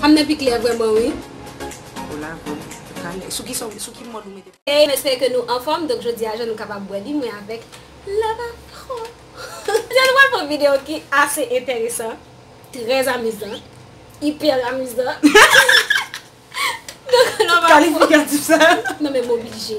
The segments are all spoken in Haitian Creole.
Fanm nan pi klè vrèman wi. Hola bro, ou ka lè, sou ki sa, sou ki mòd ou mete. Hey m espere ke nou anfòm donk jodi a jan nou kapab wè li mwen avèk Love Afro jodi a nou pral fè yon video ki ase entèresan trè amizan ipè amizan donk Love Afro tout kalifikatif sa yo nan men m oblije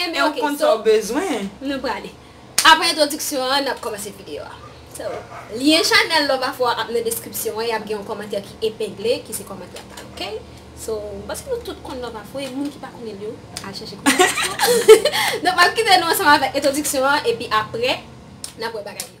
Enben ok so nou prale. Aprè entwodiksyon an nap kòmanse videyo a. So lyen chanèl Love Afro a ap nan deskripsyon an e ap gen yon kòmantè ki epengle ki se kòmantè pal ok. So m panse nou tout konn Love Afro e moun ki pa konnenl yo al chèche konnen Love Afro. Donk map kite nou ansanm avèk entwodiksyon an epi aprè nap wè bagay yo.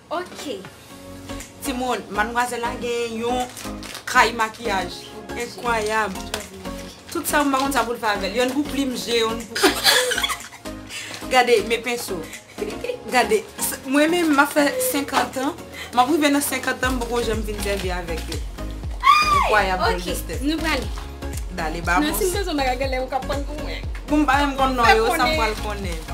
Ok. Timoun, madmwazèl la gen yon kay makiyaj enkwayab. Tout sa m pa konn sa pou l fè avè l. Yonn pou plim je, yonn pou. Gade, men penso. Gade, mwen menm m ap fè senkantan, m ap rive nan senkantan m poko janm fin sèvi avèk yo. Enkwayab gold estet. Ok, nou prale. Dale, ba mons. Nan si m bezwen bagay gèlè ou ka prann pou mwen. Pou m pa menm konn non yo, sa m pral konnen.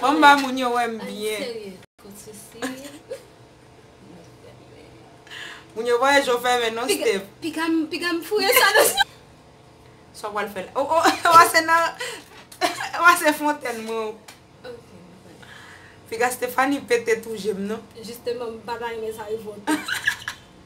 Banm ba moun yo wèm byen. Moun yo pa wè jo fèmen non Steph. Sa w pral fè la. Ou a se fontèn mwen ou. Piga Stephanie pete tou je m non.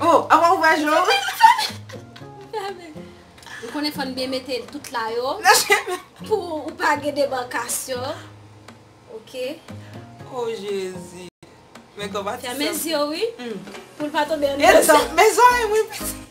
Oh avan ou wè je w. Ou konnen fòn byen mete tout la yo. Nan cheve. Pou ou pa gen debankasyon. Ok. Oh jezi. Men konpati sa. Fèmen zye w wi. Pou l pa tonbe andedan. E zòrèy mwen piti.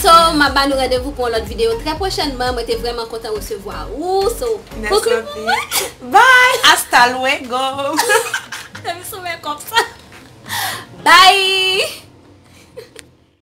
So map ba nou randevou pou yon lòt video trè pwochènman mwen te vrèman kontan resevwa ou so boucle pou mwen Bye hasta luego Fèm soumen kòm sa Bye.